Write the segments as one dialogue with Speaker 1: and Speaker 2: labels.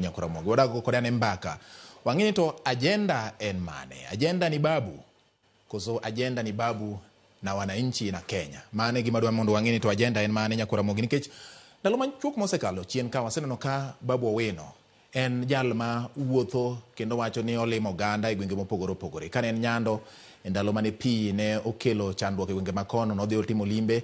Speaker 1: Nyako Ramogi. Wadak go kode ane mbaka. Wang'e ni to ajenda en mane? Ajenda ni babu. Koso ajenda ni babu na wananchi na Kenya. Mano e gima dwa mondo wang'e ni to ajenda en mane Nyako Ramogi nikech ndalo machuok mosekalo chien ka waseneno ka babu Owino en jal ma wuotho kendo wacho ni olimo oganda e gwenge mopogore opogore. Kane en Nyando E ndalo mane pi ne okelo chandruok e gwenge ma kono, nodhi otimo limbe,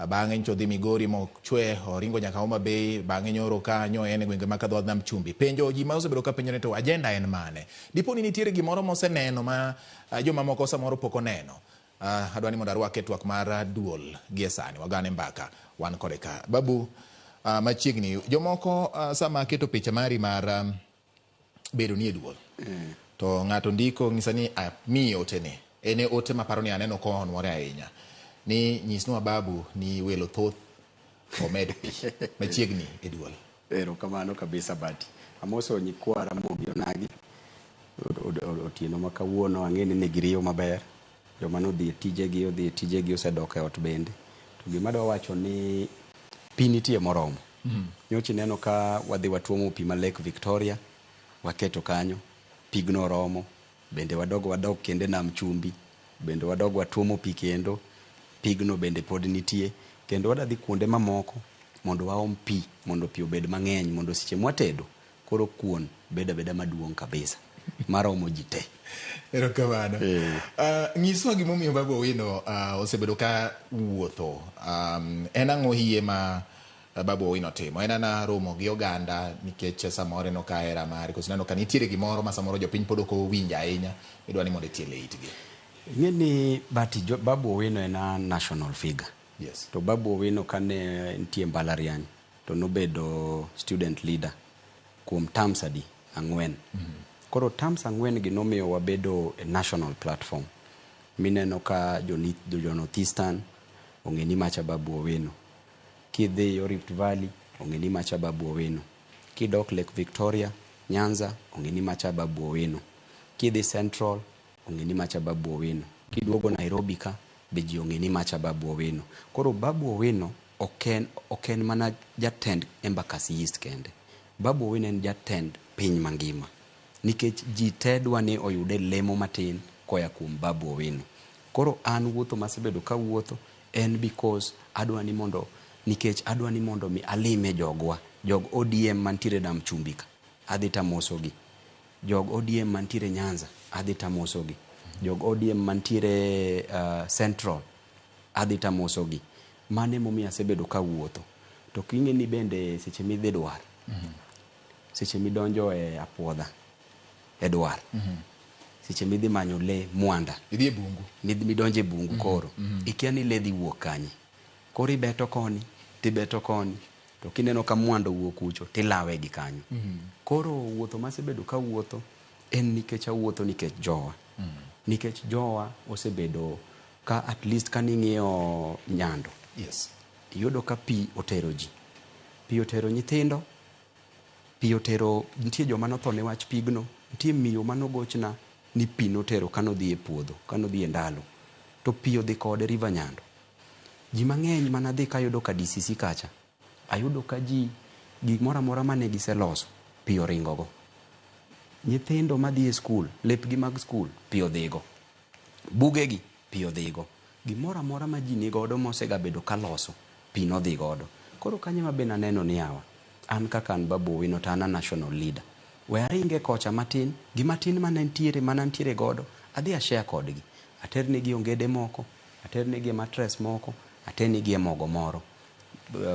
Speaker 1: bang'e nyocha odhi Migori mochwe, oringo nyaka Homa Bay, bang'e nyoro ka nyo en e gwenge ma ka dho nam chumbi. Penjo ji ma osebedo ka penjo ni to agenda en mane? Dipo ni nitiere gimoro moseneno ma joma moko samoro pok oneno. Adwa ni mondo arwake e twak mar duol gie sani. Wagane mbaka wan kode ka. Babu, machiegni, jomoko sama aketo picha mari mar bedo ni e duol mm. to ng'ato ndiko ng'isa ni amiye otene en e ote maparo ni aneno kohonwore ahinya ni nyisnwa babu ni welo thoth omed pi machiegni e duol erokamano
Speaker 2: kabisa bati amoso nyikwa ramogi onagi otieno ma kawuono ang'e ni nigiriyo maber Joma nodhi e tijegi odhi e tijegi osedok e ot bende. To gima adwa wacho ni pi nitie moromo. Nyocha ineno ka wadhi watuomo pi ma Lake Victoria waketo kanyo, pigno romo. Bende wadog wadog kendo e nam chumbi, bende wadog watuomo pi kendo, pigno bende pod nitie. Kendo wadadhi kuonde mamoko mondo waom pi mondo pi obed mang'eny mondo seche mwatedo Koro kuon bedo abeda maduong' kabisa maromo ji te. Erokamano.
Speaker 1: Eh. Ah, Nyiswa gimomiyo Babu Owino ah, osebedo ka wuotho. Um, En ang'o hie ma ah, Babu Owino timo? En ana romo gi oganda nikech eh, samoro en ok ahera mari. Koso ineno ka nitiere gimoro ma samoro jopiny pod ok owinjo ahinya. Idwa ni mondo itiel e itgi. Ing'e ni
Speaker 2: but jo, Babu Owino en a national figure. Yes. To Babu
Speaker 1: Owino
Speaker 2: kane nitie mbalariany, to nobedo student leader kuom terms adi? Ang'wen. Mm -hmm. Koro terms ang'wen gi nomiyo wabedo a national platform mineno ka jo North Eastern ong'e ni macha Babu Owino. Kidhi yo Rift Valley ong'e ni macha Babu Owino. Kidok Lake Victoria, Nyanza ong'e ni macha Babu Owino. Kidhi Central ong'e ni macha Babu Owino. Kiduogo Nairobi ka be ji ong'e ni macha Babu Owino. Koro Babu Owino Ok en, ok en mana jatend Embakasi East kende. Babu Owino en jatend piny mangima. Nikech ji te dwa ni oyud e lemo matin koya kuom Babu Owino. Koro an wuotho masebedo kawuotho en because adwa ni mondo, nikech adwa ni mondo mi alime jogwa. Jog ODM mantiere Nam Chumbi ka, adhi tamoso gi. Jog ODM mantiere Nyanza, adhi tamoso gi. Jog ODM mantiere Central, adhi tamoso gi. Mano e momiyo asebedo ka awuotho. To ok ing'e ni bende seche ma idhi dwar, seche ma idonjo e apuodha, e dwar, seche ma idhi manyo le, mwanda, Idhi e bungu.
Speaker 1: mid- midonjo e bungu
Speaker 2: koro, ikia ni le dhi wuok kanye. Koro ibeto koni, to ibeto koni, to kineno ka mwanda owuok kucho, to ilawe gi kanyo. Koro wuotho ma asebedo ka awuotho en nikech awuotho nikech jowa. Nikech jowa osebedo Ka at least kane ing'iyo Nyando, Yes.
Speaker 1: iyudo ka pi
Speaker 2: otero ji. Pi otero nyithindo, pi otero, nitie joma notho ne wach pigno, nitie miyo mane ogochna ni pi notero kane odhi e puodho, kane odhi e ndalo. To pi odhi kode River Nyando. Ji mang'eny mane adhi ka ayudo ka DCC kacha, Ayudo ka ji gimoro amora mane giseloso piyo ringogo. Nyithindo madhi e skul, lepgi mag skul piyo dhigo. Bugegi piyo dhigo. Gimoro amora ma ji nigodo mosegabedo kaloso pi nodhi godo. Koro kanyo ema be naneno ni yawa, an kaka an Babu Owino to an a national leader. We aringe kocha matin, gi matin mane nitiere, mane antiere godo, adhi a share kodgi. Aternegie ongede moko, aternegie mattress moko, aternegie mogo moro.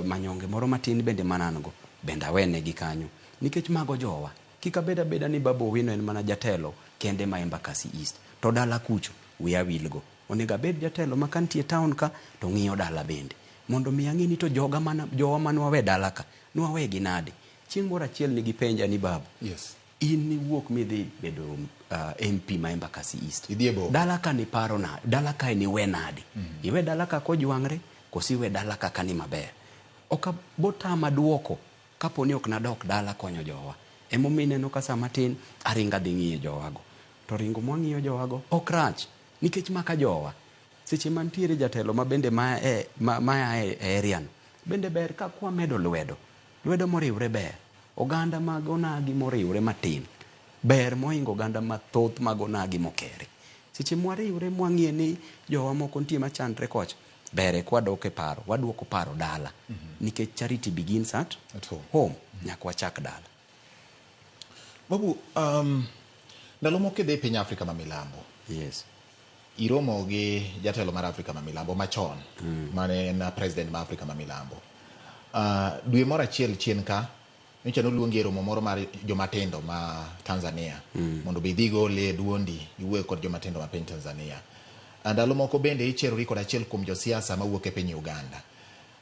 Speaker 2: Manyonge moro matin bende mane an go, bende awenegi kanyo. Nikech mago jowa. Kik abed abeda ni Babu Owino en mana jatelo kende ma Embakasi East. To dala kucho, we awil go. Onego abed jatelo ma kantie e town ka, to ng'iyo dala bende. Mondo mi ang'e ni to joga mane jowa mane wawe dala ka, ne wawegi nade. Chieng' moro achiel ne gipenja ni Babu. Yes. In
Speaker 1: niwuok
Speaker 2: midhi bedo uh, MP ma Embakasi East. Idhi e boma. Dala ka
Speaker 1: niparo na,
Speaker 2: dala kae niwe nadi? Mm -hmm. Iwe dala ka kojwang're, kosi iwe dala ka kani maber. Oka botama duoko kapo ni ok nadok dala konyo jowa. Emomiyo ineno ka sama tin aringa dhi ng'iyo jowago. To ringo mwang'iyo jowago ok rach nikech maka jowa. Seche mantiere jatelo ma bende ma, e, ma, ma e, e area no bende ber ka kwamedo lwedo Lwedo moriwre ber. Oganda mag onagi moriwre matin ber mohingo oganda mathoth mag onagi mokere. Seche mwariwre mwang'e ni jowa moko nitie machandre kocha, ber e kwadok e paro, waduoko paro dala. Nikech charity begins at At home. home. Nyaka wachak dala.
Speaker 1: Babu, um, ndalo moko kidhi piny Afrika ma milambo, Yes.
Speaker 2: iromo
Speaker 1: gi jatelo mar Afrika ma Milambo machon mm. mane en president ma Afrika ma Milambo. Uh, dwe moro achiel chien ka nyocha noluongi e romo moro mar jomatindo ma Tanzania mm. mondo be idhigo olee duondi iwuoyo kod jomatindo ma piny Tanzania. Ah, ndalo moko bende icherori kod achiel kuom josiasa mawuok e piny Uganda.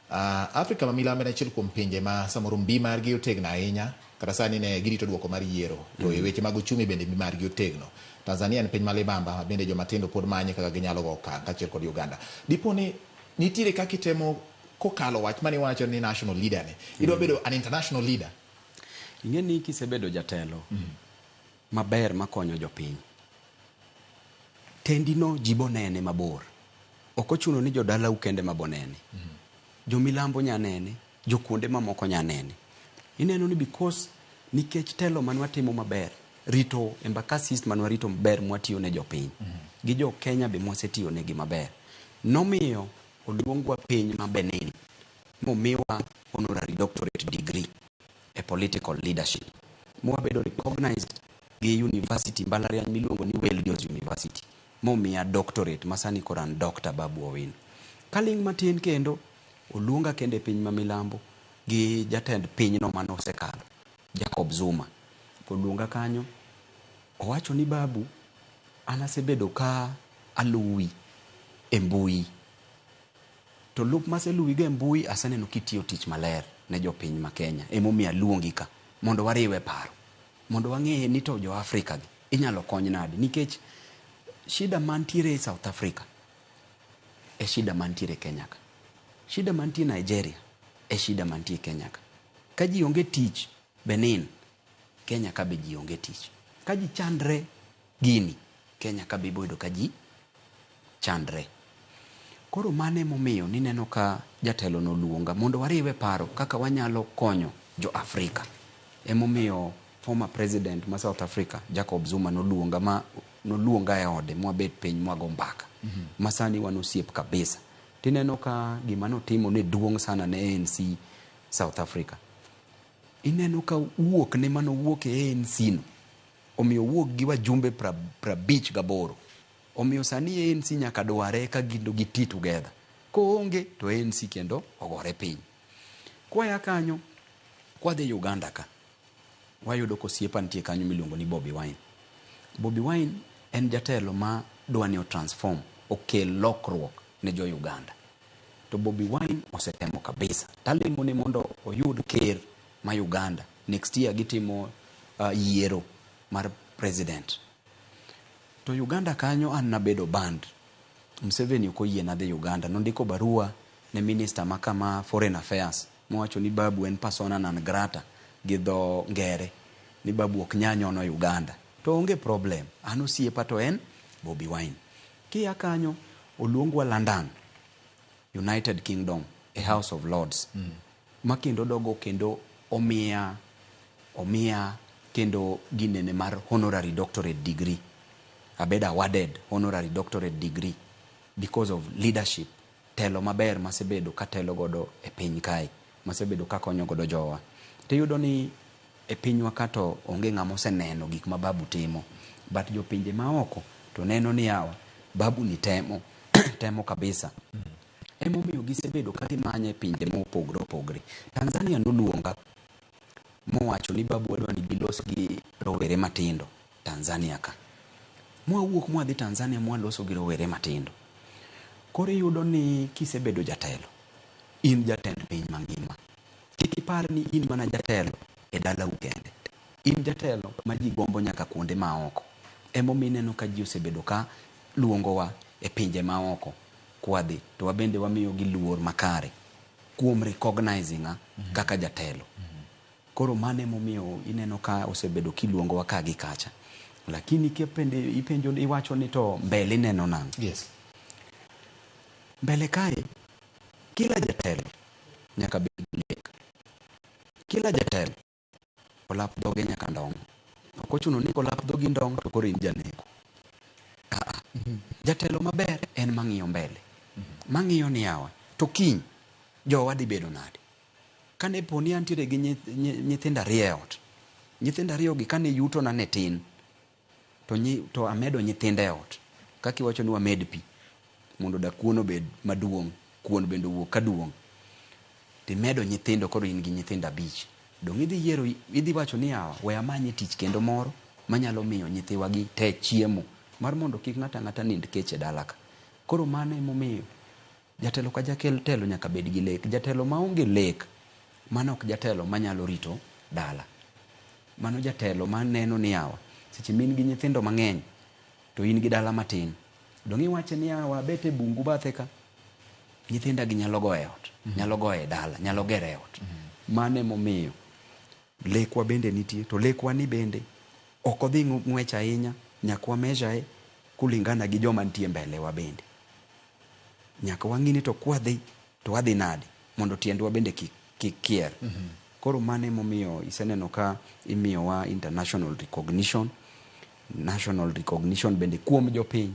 Speaker 1: A Afrika ma milambo en achiel kuom pinje ma samoro mbi margi otegno ahinya. Kata sani ne girito dwoko mar yiero. To e weche mag ochumi bende mbi margi otegno. Tanzania en piny ma libamba ma bende joma tindo pod manye kaka ginyalo go okang' kaachiel kod Uganda. Dipo ni nitiere kaka itemo kokalo wach mane iwacho ni national leader ni, idwa bedo an international leader? Ing'e ni
Speaker 2: kisebedo jatelo, maber makonyo jopiny. Tendino ji bonene mabor. Ok ochuno ni jodalau kende ma bonene. Jomilambo nya nene, jokuonde mamoko nya nene. Ineno ni because nikech telo mane watimo maber, rito Embakasi East mane warito maber mwatiyo ne jopiny, gi jo Kenya be mwasetiyo negi maber, nomiyo oluongwa piny ma Benin momiwa honorary doctorate degree. e political leadership mwabedo recognized gi university mbalariany miluongo ni Welljo's University momiya doctorate masani koro an Dr. Babu Owino. Kaling' matin kendo oluonga kendo e piny ma milambo gi jatend pinyno mane osekalo Jacob Zuma oluonga kanyo owacho ni Babu an asebedo ka aluwi e mbui To lup maseluwi go e mbui aseneno kitiyo tich maler ne jopiny ma Kenya emomiyo aluongi ka mondo wariwe paro mondo wang'e ni to jo Africa gi inyalo kony nadi nikech shida mantiere South Africa e shida mantiere Kenya ka. Shida mantie Nigeria e shida mantie Kenya ka. Ka ji onge tich Benin, Kenya ka be ji onge tich. Ka ji chandre Gini, Kenya ka be ibo yudo ka ji chandre. Koro mano ema omiyo nineno ka jatelono oluonga mondo wariwe paro kaka wanyalo konyo jo Afrika. Ema omiyo former President ma South Africa Jacob Zuma noluonga ma noluonga e ode mwabet piny mwago mbaka. Ma sani wan osiep kabisa. To ineno ka gima notimo ne duong' sana ne ANC South Africa. Ineno ka wuokne mane owuok e ANC no, Omiyo owuok gi wajumbe prabich gaboro. Omiyo sani ANC nyaka dware eka gin to gi ti together. Koonge to ANC kendo ogore piny. Kwaya kanyo, kwadhi Uganda ka, wayudo ka osiepa nitie kanyo miluongo ni Bobi Wine. Bobi Wine en jatelo ma dwa ni o transform, okel lokruok ne jo Uganda. To Bobi Wine osetemo kabisa. Talemo ne mondo oyud ker ma Uganda. Next year gitimo yiero mar president. To Uganda kanyo an nabedo banned. Museveni ok oyie nadhi Uganda. Nondiko barua ne minister ma ka ma foreign affairs mowacho ni Babu en persona non grata gi dho ngere. Ni Babu ok nya nyono Uganda. To onge problem. An osiepa to en Bobi Wine. Kia kanyo oluongwa London, United Kingdom e House of Lords. Ma kendo dogo kendo omiya omiya kendo ginene mar honorary doctorate degree. Abedo awarded honorary doctorate degree because of leadership, telo maber masebedo katelo godo e piny kae, masebedo kakonyo godo jowa. To iyudo ni e pinywa ka to onge ng'ama oseneno gik ma Babu timo but jopinje maoko to neno ni yawa Babu ni temo, temo kabisa. Emomiyo gisebedo ka gimanya e pinje ma opogore opogore. Tanzania noluonga mowacho ni babu wadwa ni gilos gi rowere matindo Tanzania ka. Mwawuok mwadhi Tanzania mwaloso gi rowere matindo. Koro iyudo ni kisebedo jatelo, in jatend piny mangima. Kik ipar ni in mana jatelo e dalau kende. In jatelo ma ji gombo nyaka kuonde maoko. Emomiyo ineno ka ji osebedo ka luongowa e pinje maoko kwadhi to wabende wamiyogi luor makare kuom recognizing a kaka jatelo. Koro mano ema omiyo ineno ka osebedo kiluongowa ka gi kacha. Lakini kipende ipenjo ni iwacho ni to mbele ineno nang'o? Yes.
Speaker 1: Mbele
Speaker 2: kae kila jatelo nyaka bed gi lek. Kila jatelo. olap dhoge nyaka ndong'. Ok ochuno ni kolap dhogi ndong' to koro in janeko. Aa, jatelo maber en mang'iyo mbele, mang'iyo ni yawa, to kiny jowa dhi bedo nade? Kane po ni antiere gi nyith- nyi- nyithindo ariyo e ot, nyithindo ariyogi kane yutona ne tin, To nyi, to amedo nyithindo e ot. Kaka iwacho ni wamed pi mondo da kuon obed maduong', kuon bende owuog ka duong'. To imedo nyithindo koro in gi nyithindo abich. Donge idhi yiero, idhi wacho ni yawa, we amanye tich kendo moro manyalo miyo nyithiwa gi te chiemo, mar mondo kik ng'ato ang'ata nind kech e dala ka. Koro mano emomiyo Jatelo ka jakel telo nyaka bed gi lek. Jatelo maonge lek mano ok jatelo manyalo rito dala. Mano jatelo maneno ni yawa seche ma in gi nyithindo mang'eny to in gi dala matin, donge iwache ni yawa abet e bungu bathe ka, nyithinda gi nyalo goyo e ot, nyalo goyo e dala, nyalo gero e ot. Mano emomiyo lekwa bende nitie. To lekwa ni bende ok odhi ng'wech ahinya, nyaka wa measure e kulingana gi joma nitie mbele wa bende. nyaka wang'i ni to kwadhi to wadhi nadi mondo tiendwa bende kik kik kier. Mm -hmm. Koro mano emomiyo iseneno ka imiyowa international recognition, national recognition bende kuom jopiny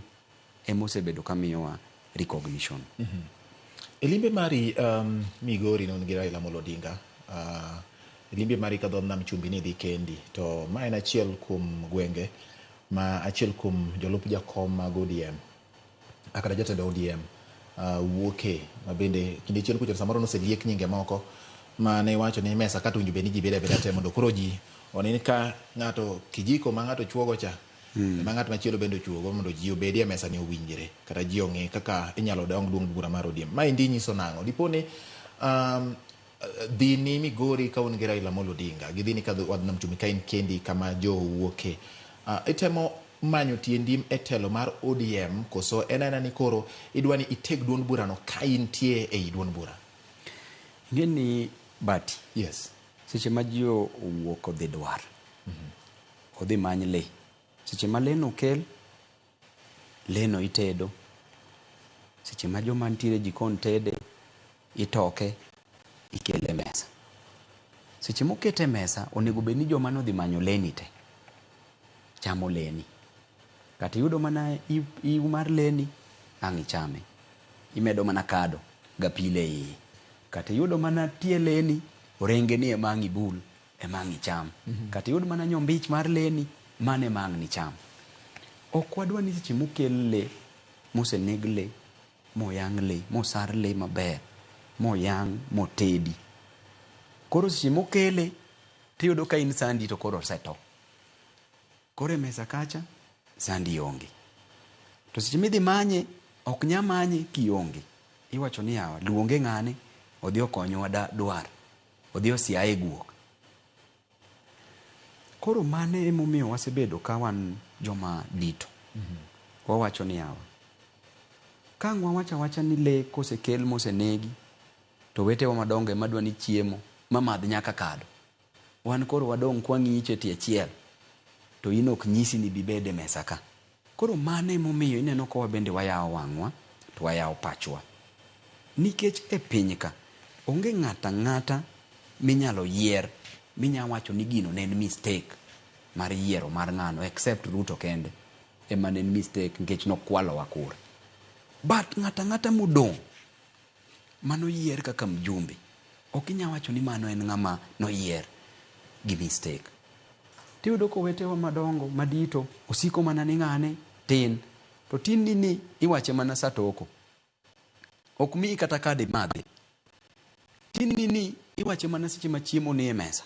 Speaker 2: emosebedo ka miyowa recognition. Mm -hmm.
Speaker 1: E limbe mari um, Migori non gi Raila Amolo Odinga uh, e limbe mari ka dho nam chumbi ni dhi kendi to ma en achiel kuom gwenge ma achiel kuom jolup jakom mag ODM a kata jatend ODM wuoke mabende kinde chien kucho samoro noseliek nyinge moko ma ne iwacho ni mesa kata owinjo bed ni ji bedo abeda te mondo koro ji one ka ng'ato kijiko ma ng'ato chuogo cha hmm. ma ng'at machielo bende ochuogo mondo ji obedi e mesa ni owinjre kata ji ong'e kaka inyalo dong duong' bura mar ODM. Maendi nyiso nang'o? Dipo ni um, Dhi ni Migori ka un gi Raila Amolo Odinga, gidhi ni kadho wadh Nam Chumbi ka in kendi kama Joho wuoke. Uh, itemo manyo tiendim e telo mar ODM koso en aena ni koro idwa ni iteg duond burano ka intie ei duond bura? Ing'e
Speaker 2: ni Bati. Yes.
Speaker 1: Seche ma ji
Speaker 2: owuok odhi dwar, mm -hmm. odhi many le. Seche ma le nokel, leno itedo, seche ma joma nitiere e jikon tede, itoke ikele e mesa. Seche mokete e mesa, onego bed ni joma nodhi manyo leni te chamo leni. Kata iyudo mana iu mar leni, ang' ichame. Imedo mana kado gapilo e iye. Kata iyudo mana tie leni, orengeni ema ang' ibul ema ang' icham. Kata iyud mana nyombich mar le ni, mano ema ang' nicham. Ok wadwa ni seche mokel le, moseneg le, moyang' le, mosar le maber, moyang', motedi, koro seche mokele tiyudo ka in sandi to koro oseto. Koro e mesa kacha, sandi onge. To seche midhi manye, ok nya manye kionge. Iwacho ni yawa, luonge ng'ane, odhi okonyowa dwar. Odhi osiaye e guok. Koro mano e momiyo wasebedo ka wan joma dito. Wawacho ni yawa, ka ang' wawach awacha ni le kosekel mosenegi to owetewa madongo e ma dwa ni chiemo ma madh nyaka kado. Wan koro wadong' ka wang'iyi cha e tie achiel to in ok nyisi ni ibi bed e mesa ka. Koro mano e momiyo ineno ka wabende wayawo wang'wa to wayawo pachwa. Nikech e piny ka, onge ng'ato ang'ata minyalo yier minyalo wacho ni gino ne en mistake mar yiero mar ng'ano except Ruto kende ema ne en mistake nikech ne okwalowa kura. But ng'ato ang'ata modong' Manoyier kaka mjumbe. Ok inyal wacho ni mano en ng'ama noyier gi mistake. To iyudo ka owetewa madongo madito osiko mana ni ng'ane tin. To tin ni ni iwache mana sa toko. Ok miyi kata card imadhi. Tin ni ni iwache mana seche ma chiemo ni e mesa.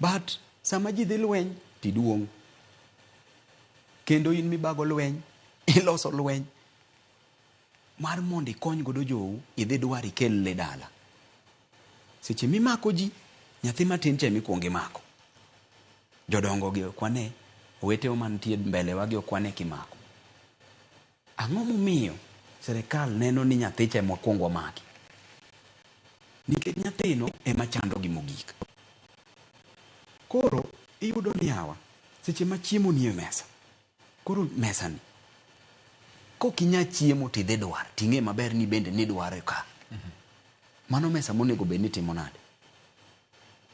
Speaker 2: But sama ji dhi lweny to iduong'. Kendo in mibago lweny, iloso lweny. Mar mondo ikony godo jou, idhi dwar ikel le dala. Seche mimako ji, nyathi matin cha emikuongo imako. Jodongo gi okwane, owetewa mantie mbele wa gi okwane kimako. Ang'o momiyo serikal neno ni nyathi cha emwakuongo wamaki? Nikech nyathino ema chando gi mogik. Koro iyudo ni yawa, seche ma chiemo nie mesa, Koro mesani kok inya chiemo to idhi dwar to ing'e maber ni bende nidware ka. Mano mesa monego bed ni timo nade?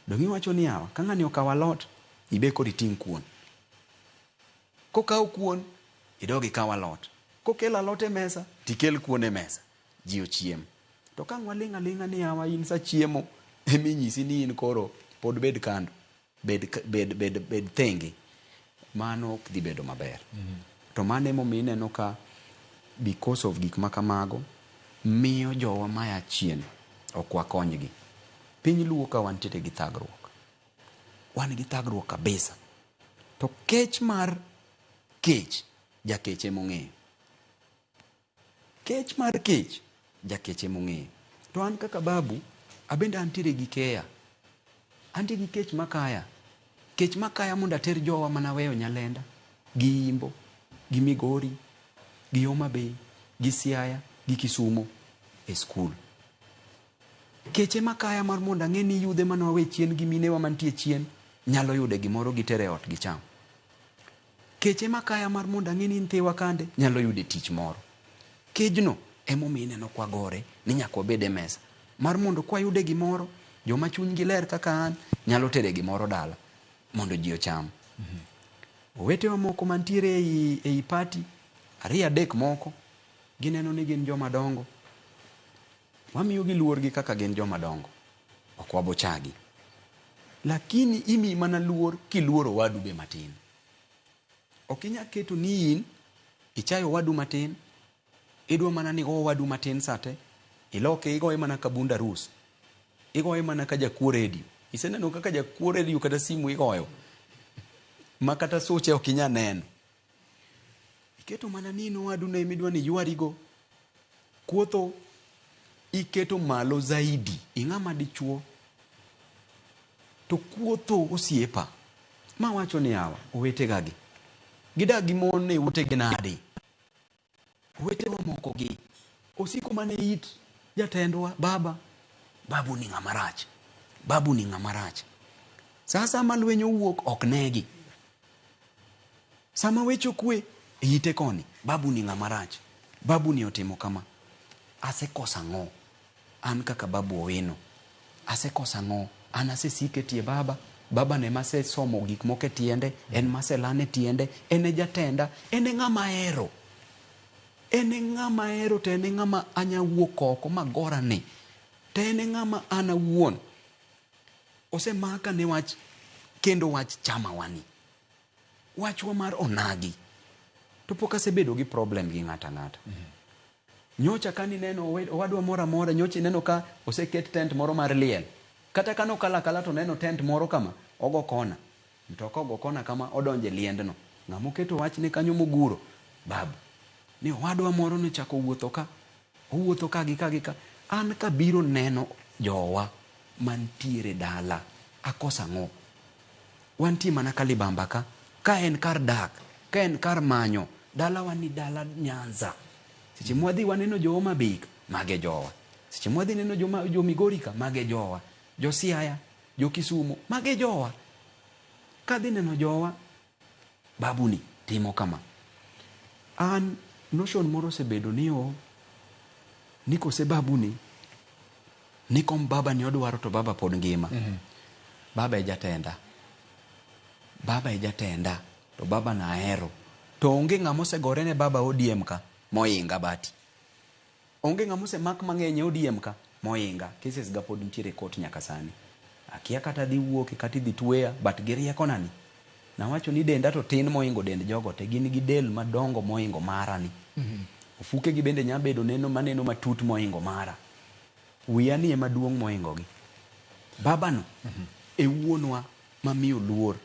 Speaker 2: Donge iwacho ni yawa ka ng'ani okawo alot, ibe koro iting' kuon. Kokawo kuon, idog ikaw alot. Kokelo alot e mesa, to ikel kuon e mesa. Ji ochiem. To ka ang' waling' aling'a ni yawa in sa chiemo ema inyisi ni in koro pod bed kando. bed, bed, bed, bed thenge, mano ok dhi bedo maber. To mano emomiyo ineno ka because of gik ma kamago, miyo jowa maya chien ok wakonygi. Piny Luo ka wantiere gi thagruok. Wan gi thagruok kabisa. To kech mar kech, jakech emong'eyo. Kech mar kech, jakech ema ong'eyo. To an kaka babu, abende antiere gi keya. Antie gi kech makaya. Kech makaya mondo ater jowa mane aweyo Nyalenda, gi Imbo, gi Migori, gi Homa Bay, gi Siaya, gi Kisumo e skul. Kech ema kaya mar mondo ang'e ni yudhe mane wawe chien gi minewa mantie chien nyalo yude gimoro giter e ot gicham. Kech ema kaya mar mondo ang'e ni Nthiwa kande nyalo yude tich moro. Kejno ema omiyo ineno kwa gore ni nyaka wabed e mesa. Mar mondo kwa yude gimoro, joma chuny gi ler kaka an nyalo tere gimoro dala mondo ji ocham. Owetewa moko mantiere ei, ei party, ariyo adek moko, gineno ni gin joma dongo. Wamiyogi luorgi kaka gin joma dongo. Ok wabochagi. Lakini imiyi mana luor kiluoro owadu be matin. Ok inyal keto ni in ichayo owadu matin, idwa mana ni igo owadu matin sa te, iloke igoye mana ka bund arus, igoye mana ka jakuo redio. Iseneno kaka jakuo redio kata simu igoyo ma kata suche ok inyal neno. Iketo mana ni in owadu ne midwa ni ywarigo. Kuotho iketo malo zaidi. Ing'ama dichuo. To kuotho osiepa. Ma wacho ni awa, owete gagi. Gidak gi mon e ute gi nadi? Owetewa moko gi osiko mana e it jatendwa baba. Babu ni ng'ama rach. Babu ni ng'ama rach. Sa asaya ma lweny owuok ok negi. Sama weche okwe e ite koni, babu ni ng'ama rach. Babu ni otimo kama. Asekoso ang'o? An kaka Babu Owino, asekoso ang'o? An asesiko e tie Baba. Baba no ema asesomo gik moko e tiende, en ma aselano e tiende, en e jatenda, en e ng'ama ahero. En e ng'ama ahero to en e ng'ama anya wuok oko ma agora ni. To en e ng'ama an awuon osemaka ne wach kendo wach chamawa ni. Wachwa mar onagi. To pok asebedo gi problem gi ng'ato ang'ata. Nyocha kane ineno owed, owadwa moro amora, nyocha ineno ka oseket tent moro mar liel. Kata kane okalo akala to oneno tent moro kama, ogo kona. Mtoka ogo kona kama, odonjo e liendno. Ng'ama oketo wachne kanyo moguro, babu, ni owadwa moro nochako owuotho ka, owuotho ka gi ka gi ka. An kabiro neno jowa mantiere dala, akoso ang'o? Wantie mana ka libamba ka. Ka en kar dak, ka en kar manyo. Dalawa ni dala Nyanza. Seche mwadhi waneno jo Homa Bay ka, mage jowa. Seche mwadhi neno jo, ma, jo Migori ka, mage jowa. Jo Siaya, jo Kisumo, mage jowa. Kadhi neno jowa, babu ni timo kama. An notion moro osebedo ni o, ni kose babu ni, Ni kom baba ni odwaro to baba pod ngima. Baba e jatenda. Baba e jatenda to baba no ahero. To onge ng'ama osegore ne baba ODM ka mohinga but onge ng'ama osemak mang'eny e ODM ka mohinga. Cases ga pod nitiere e court nyaka sani. Akia kata adhi wuoke kata idhi tweya but gi riekona ni. Nawacho ni denda to tin mohingo dend jogo te, gin gi del madongo mohingo mara ni. Ofukegi bende nya bedo neno maneno matut mohingo mara. Wiya ni ema duong' mohingogi. Baba no e wuonwa mamiyo luor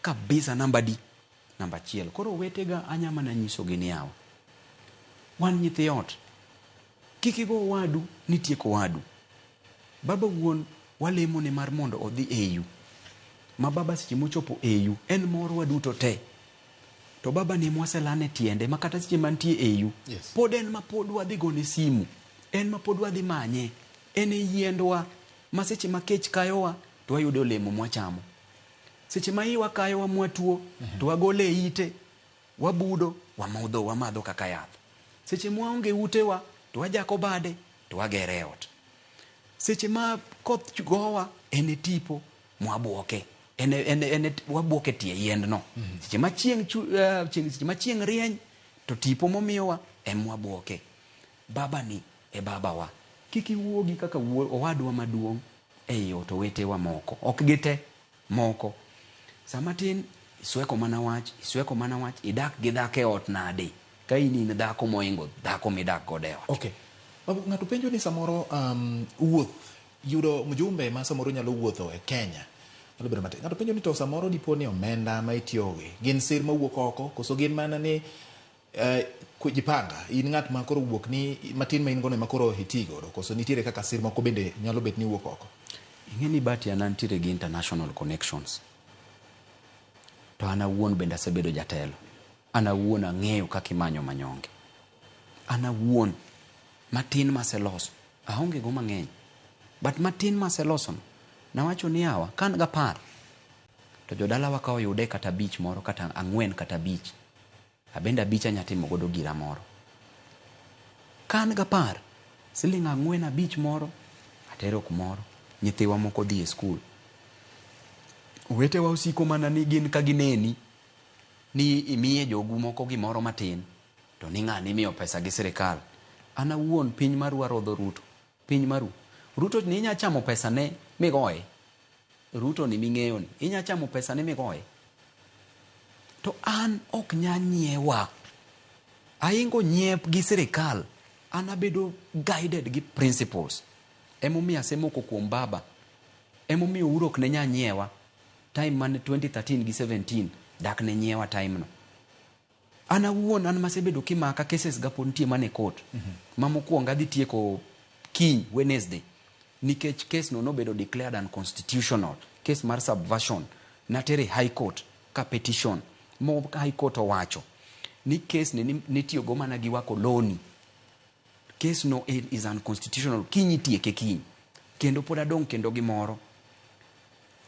Speaker 2: kabisa namba adi? Namba achiel. Koro owetega anya mana nyisogi ni yawa, wan nyithi ot. Kik igo owadu ni tiek owadu. Baba wuon walemo ne mar mondo odhi eyu. Ma baba seche mochopo eyu en mor waduto te. To baba ni mwaselane tiende ma kata seche mantie eyu yes. pod en ma pod
Speaker 1: wadhi
Speaker 2: gone simu. En ma pod wadhi manye. En e yiendwa ma seche ma kech kayowa to wayudo olemo mwachamo. Seche ma iwa kayowa mwatuo mm -hmm. to wagole ite Wabudo, wamodho, wamadho kaka yath. Seche mwaonge e utewa to wajako bade to wagero e ot. Seche ma koth gowa en e tipo mwabwoke. En e, en e, en e, wabwoke tie yiendno. Seche ma chieng' chu, uh, chieng', seche ma chieng' rieny to tipo momiyowa en mwabwoke. Baba ni e babawa. Kik iwuogi kaka wuo, owadwa maduong' ei ot, owetewa moko. Ok gite. Moko. Sa matin isweko mana wach, isweko mana wach, idak gi dhako e ot nadi ka in in dhako mohingo dhako midak godo e ot? Ok.
Speaker 1: Ng'ato penjo ni samoro wuoth, yudo mjumbe ma samoro nyalo wuotho e Kenya nyalo bedo matek. Ng'ato penjo ni to samoro dipo ni omenda ma itiyogo gi gin sir mawuok oko koso gin mana ni. Uh, jipanga in ng'at ma koro wuok ni matin ma in gono ema koro iti godo koso nitiere kaka sir moko bende nyalo bet ni wuok oko ing'e ni bati
Speaker 2: an antiere gi international connections to an awuon bende asebedo jatelo an awuon ang'eyo kaka imanyo manyonge an awuon matin maseloso aonge go mang'eny but matin maselosono nawacho ni awa ka an gapar to jodalawa ka oyude kata bich moro kata ang'wen kata bich Abende abich anya timo godo gira moro. Ka an gapar, siling' ang'wen abich moro atero kumoro. Nyithiwa moko odhi e skul. Owetewa osiko mana ni gin ka gineni ni imiye jogu moko gimoro matin to ni ng'ani imiyo pesa gi sirikal. An awuon piny marwa rodho Ruto. Piny maru. Ruto ni inya chamo pesa ne migoye. Ruto ni mingeyo ni inya chamo pesa ne migoye. To an ok nya nyiewa. Aingo nyiep gi sirikal. An abedo guided gi principles. Emomiyo asemoko kuom baba. Emomiyo uru ok ne nya nyiewa. Time mane 2013 gi 17 dak ne nyiewa time no. An awuon an masebedo kimaka cases ga pod nitie mane court ma mokuongo adhi tieko kiny Wednesday nikech case no nobedo declared unconstitutional case mar subversion natere high court ka petition mo high court owacho ni case ni nitiyo go mana gi wako loni Case no is unconstitutional. Kiny itieke kiny. Kendo pod adong' kendo gi moro.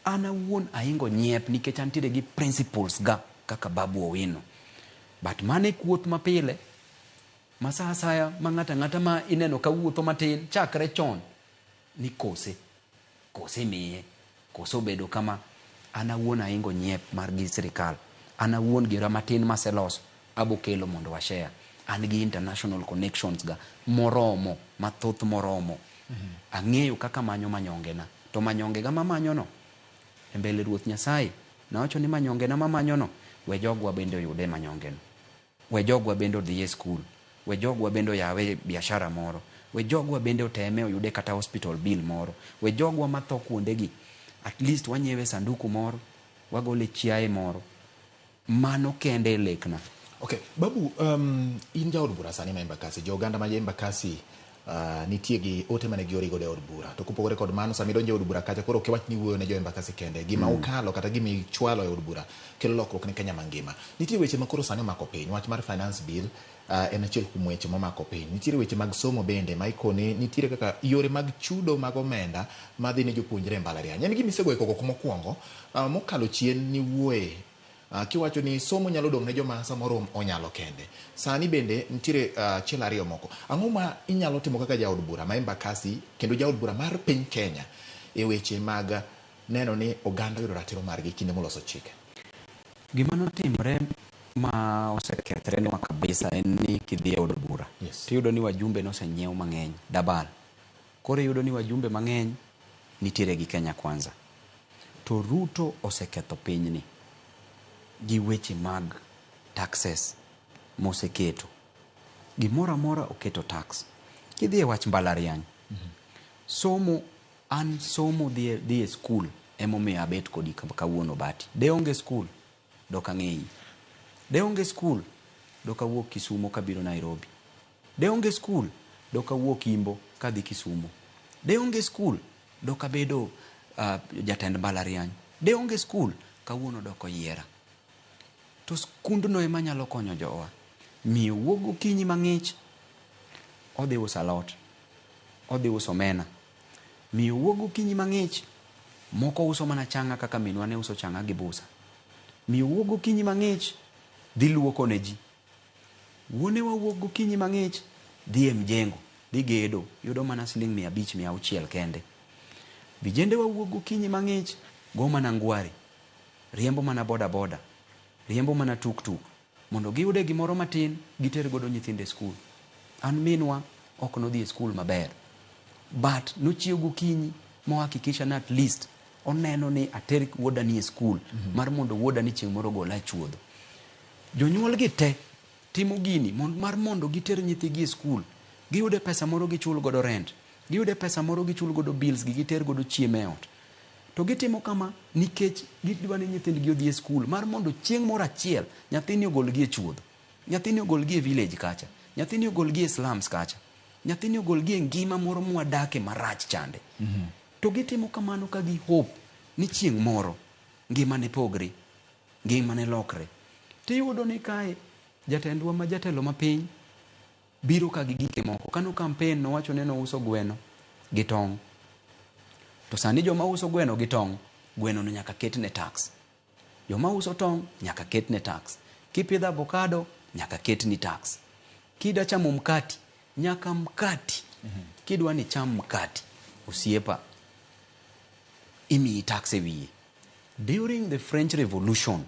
Speaker 2: An awuon ahingo nyiep nikech antiere gi principles ga kaka Babu Owino. But mano e kuoth ma pile ma sa asaya ma ng'ato ang'ata ma ineno ka wuotho matin chakre chon ni kose, kose imiye, kose obedo kama, an awuon ahingo nyiep mar gi sirikal, an awuon gera matin maseloso abokelo mondo wa share, an gi international connections ga moromo, mathoth moromo, ang'eyo kaka amanyo manyonge na, to manyonge ga mamanyo no e mbele Ruoth Nyasaye, nawacho ni manyonge na mamanyo no we jogwa bende oyude manyonge no. We jogwa bende odhi e skul. We jogwa bende oyawe biashara moro. We jogwa bende oteme oyude kata hospital bill moro. We jogwa matho kuondegi at least wanyiewe sanduku moro, wagole chiaye moro. Mano kende e lekna. Okay, Babu,
Speaker 1: um, in jaod bura sani ma Embakasi. Jo oganda ma Embakasi nitie gi ote mane giori godo e od bura. To kopogore kod mano, sama idonjo e od bura kacha, koro ok iwach ni iwuoyo ne jo Embakasi kende. Gima ukalo kata gima ichwalo e od bura kelo lokruok ne Kenya mangima. Nitiere weche ma koro sani omako piny. Wach mar Finance Bill en achiel kuom weche momako piny. Nitiere weche mag somo bende ma ikoni nitiere kaka yore mag chudo mag omenda madhi ne jopuonjre e mbalariany. En gima isegoyo koko mokuongo mokalo chien niwuoye. Ah, kiwacho ni somo nyalo dong' ne joma samoro onyalo kende. Sani bende nitiere ah, achiel ariyo moko. Ang'o ma inyalo timo kaka jaod bura ma Embakasi kendo jaod bura mar piny Kenya e weche mag neno ni oganda oyudo ratiro margi kinde moloso chike? Gima
Speaker 2: notimre ma osekethre nwa kabisa en ni kidhi e od bura Yes. tiyudo ni wajumbe nosenyiew mang'eny, double. Koro iyudo ni wajumbe mang'eny nitiere gi Kenya Kwanza. To Ruto oseketho pinyni gi weche mag taxes moseketo. Gimoro amora oketo tax. Kidhi e wach mbalariany, somo an somo dhi e, dhi e skul emomiyo abet kodi kawuono Bati. De onge skul, dok ang'eyi. De onge skul, dok awuok Kisumo kabiro Nairobi. De onge skul, dok awuok Imbo kadhi Kisumo. De onge skul, dok abedo jatend mbalariany. De onge skul, kawuono dok oyiera. To skundno ema nyalo konyo jowa. Miyo wuok gokinyi mang'ich, odhi uso alot, odhi uso omena. Miyo wuok gokinyi mang'ich, moko uso mana chang'a kaka minwa ne uso chang'a gi busa. Miyo wuok gokinyi mang'ich, dhi luoko ne ji. Wuonewa wuok gokinyi mang'ich dhi e mjengo dhi gedo, yudo mana siling' mia abich, mia auchiel kende. Vijendewa wuok gokinyi mang'ich go mana ngware, riembo mana bodaboda, riembo mana tuktuk mondo giyude gimoro matin giter godo nyithindo e skul. An minwa ok nodhi e skul maber but nochiew gokinyi mo hakikisha ni at least Oneno ni ater wuoda ni e skul mm -hmm. mar mondo wuoda ni chieng' moro gola chuodho. Jonyuol gi te timo gini mond, mar mondo giter nyithigi e skul, giyude pesa moro gichul godo rent, giyude pesa moro gichul godo bills gi giter godo chiemo e ot. To gitimo kama nikech gidwa ni nyithindgi odhi e skul mar mondo chieng' moro achiel nyathini ogolgi e chuodho, nyathini ogolgi e village kacha, nyathini ogolgi e slums kacha, nyathini ogolgi e ngima moro mwadake marach chande. Mm -hmm. To gitimo kamano ka gi hope ni chieng' moro ngima ne pogre, ngima ne lokre. To iyudo ni kae jatendwa ma jatelo ma piny biro ka gi gike moko. Kano campaign nowacho ni nouso gweno gi tong'. To sani joma uso gweno gi tong', gweno no nyaka ketne tax. Joma uso tong' nyaka ketne tax. Kipidho abokado nyaka ketni tax. Kida chamo mkati nyaka mkati kidwa ni cham mkati osiepa imiyi tax e wiye. During the French Revolution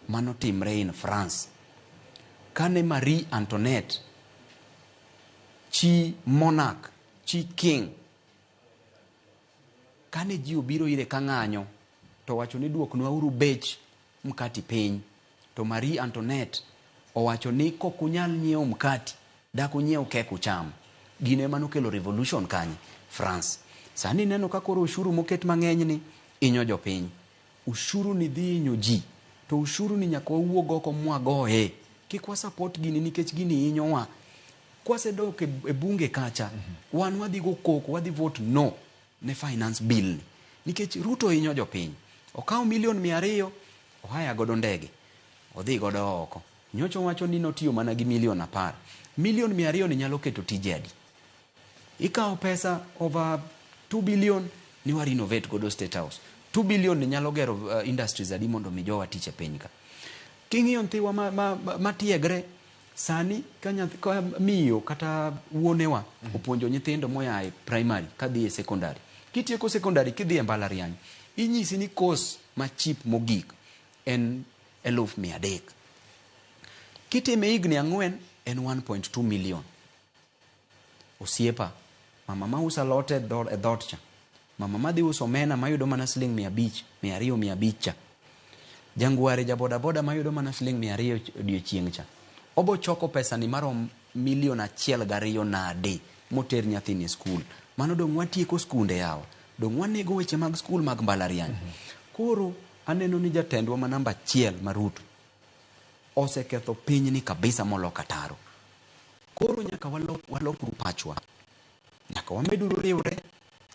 Speaker 2: manotimre in France kane Marie Antoinette chi monarch chi king Kane ji obiro ire ka ng'anyo, to owacho ni duoknwauru bech mkati piny. To Marie Antoinette owacho ni kok unyal nyiewo mkati, dak unyiew kek ucham. Gino ema nokelo revolution kanye? France. Sani ineno ka koro oshuru moket mang'enyni inyo jopiny. Ushuru ni dhi inyo ji. To ushuru ni nyaka wawuog oko mwagoye. Kik wa support gini nikech gini inyowa. Kwasedok e, e bunge kacha, mm -hmm. wan wadhi go koko, wadhi vote no ne finance bill ni. Nikech Ruto inyo jopiny. Okawo milion mia ariyo, ohaya godo ndege. Odhi godo oko. Nyocho wacho ni notiyo mana gi milion apar. Milion mia ariyo ni nyalo keto tije adi? Ikawo pesa over 2 billion ni wa renovate godo State House. 2 billion ni nyalo gero uh, industries adi mondo mi jowa tich e piny ka. King'iyo nthiwa ma, ma, ma, ma tiegre sani ka nyathi ka miyo kata wuonewa mm -hmm. opuonjo nyithindo moya e primary kadhi e secondary. Kitieko secondary kidhi e mbalariany inyisi ni course ma cheap mogik en eluf mia adek. Kitime higni ang'wen en 1.2 million. Osiepa, mama ma uso alot e dho- e dhot cha, mama ma dhi uso omena ma yudo mana siling' mia abich, mia ariyo, mia abich cha, jangware ja bodaboda ma yudo mana siling' mia ariyo ch- odiechieng' cha, obo choko pesani marom milion achiel gariyo nade moter nyathini e skul? Mano dong' watieko skunde yawa, dong' wanego weche mag skul mag mbalariany. Koro aneno ni jatendwa ma namba achiel ma Ruto oseketho pinyni kabisa moloko ataro. Koro nyaka walok, walokru pachwa. Nyaka wameduru riwre,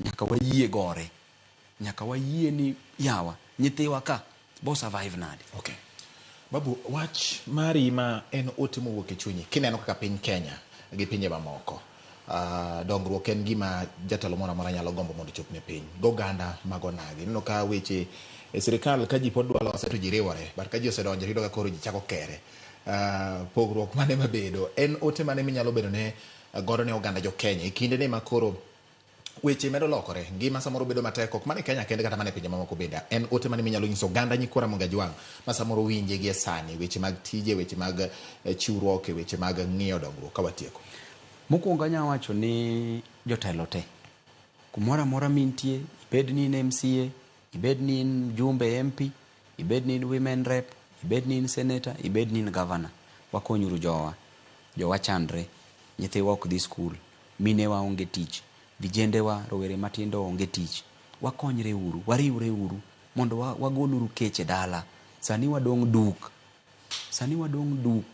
Speaker 2: nyaka wayie gore. Nyaka wayie ni yawa, nyithiwa ka, bo survive nade? Okay.
Speaker 1: Babu, wach mari ma en ote mowuok e chunyi, kineno kaka piny Kenya gi pinje mamoko, uh, dongruok en gima jatelo moro amora nyalo gombo mondo chop ne piny. Goganda mag onagi. Ineno ka weche e sirikal ka ji pod dwa lose to ji riwore, but ka ji osedonjo to iyudo ka koro ji chako kere. Pogruok mane mabedo? En ote mane minyalo bedo ne godo ne oganda jo Kenya e kinde ni makoro weche medo lokore, ngima samoro bedo matek, ok mana e Kenya kende kata mana e pinje mamoko bende. En ote mane minyalo nyiso oganda nyikwa Ramogi Ajwang' ma samoro winje gi e sani, weche mag tije, weche mag eh, chiwruok e weche mag ng'iyo dongruok ka watieko? Mokwongo anya
Speaker 2: wacho ni jotelo te kumoro amora mintie, ibed ni in MCA, ibed ni in mjumbe, MP, Ibed ni in women rep, ibed ni in senator, ibed ni in governor, wakonyuru jowa. Jowa chandre, nyithiwa ok dhi skul, minewa onge tich, vijendewa, rowere matindo onge tich. Wakonyre uru, wariwre uru mondo wagol uru kech e dala. Sani wadong' duk. Sani wadong' duk.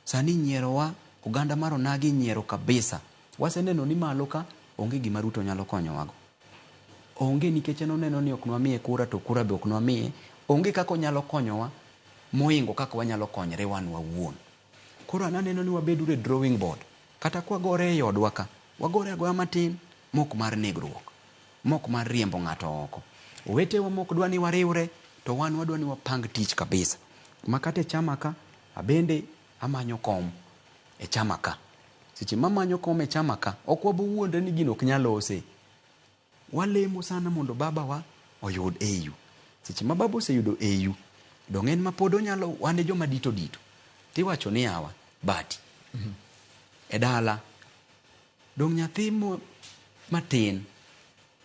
Speaker 2: Sani inyierowa, oganda mar onagi inyiero kabisa. Waseneno ni malo ka onge gima Ruto nyalo konyowago. Onge nikech en oneno ni ok nwamiye kura to kura be ok nwamiye. Onge kaka onyalo konyowa mohingo kaka wanyalo konyre wan wawuon. Koro an aneno ni wabed uru e drawing board. Kata kwa gore ei odwa ka, wagore agoya matin mok mar negruok. Mok mar riembo ng'ato oko. Owetewa mok dwa ni wariwre to wan wadwa ni wapang tich kabisa. Makata e chama ka, abende. Amanyo kom e chama ka. Seche mamanyo kom e chama ka, ok wabowuondre ni gino ok nyal lose. Walemo sana mondo baba wa oyud AU. Seche ma baba oseyudo AU, donge en ma pod onyalo, wan e joma dito dito. Tiwacho ni yawa, bati. Mm -hmm. E dala, dong nyathi mo matin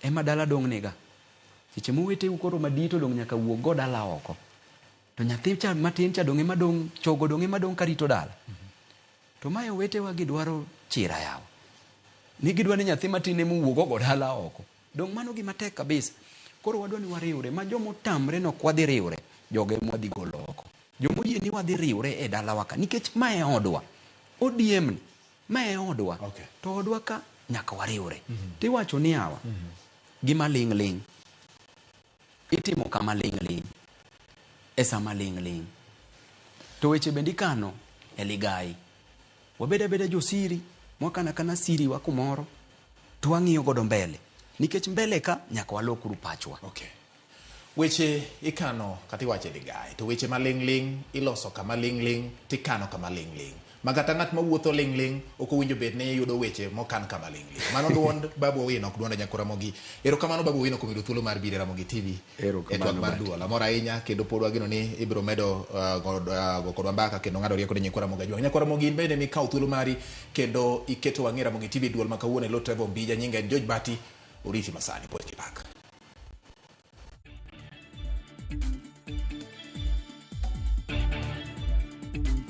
Speaker 2: ema dala dong niga. Seche mowete u koro madito dong nyaka wuog go dala oko. To nyathi cha matin cha donge madong' chogo donge madong' karito dala. To mae owetewa gidwaro chira yawa. Ni gidwa ni nyathi matin ema owuog ogo dala oko. Donge mano gima tek kabisa. Koro wadwa ni wariwre ma joma otamre no ok wadhi riwre, jogo ema wadhi golo oko. Joma oyie ni wadhi riwre e dalawa ka nikech ma e odwa. ODM ni ma e odwa. Okay. To odwa ka nyaka wariwre. Tiwacho ni yawa gima ling' ling'. itimo kama ling' ling' e sama ling' ling'. To weche bende ikano e ligayi. Wabed abeda josiri, mwakana akana siriwa kumoro, to wang'iyo godo mbele. Nikech mbele ka nyaka walokuru pachwa. Okay.
Speaker 1: Weche ikano kata iwacho e ligayi, to weche ma ling' ling' iloso kama ling' ling' tikano kama ling' ling'. Ma kata ng'at ma wuotho ling' ling' ok owinjo bed ni yudo weche mokan kama ling' ling'. Mano duond Babu Owino ok duonda Nyako Ramogi. Erokamano Babu Owino kuom yudo thuolo mar biro e Ramogi TV e twak Erokamano mar Bati. duol.
Speaker 2: Amor ahinya
Speaker 1: kendo pod wageno ni ibiro medo ah, go ah, go kodwa mbaka kendo ng'ado rieko ne Nyikwa Ramogi Ajwang'. Nyakwa Ramogi in bende mikawo thuolo mari kendo iketo wang'i e Ramogi TV duol ma kawuono e lo Trevor Ombija nyinga en George Bati. Oriti masani pod gi pak.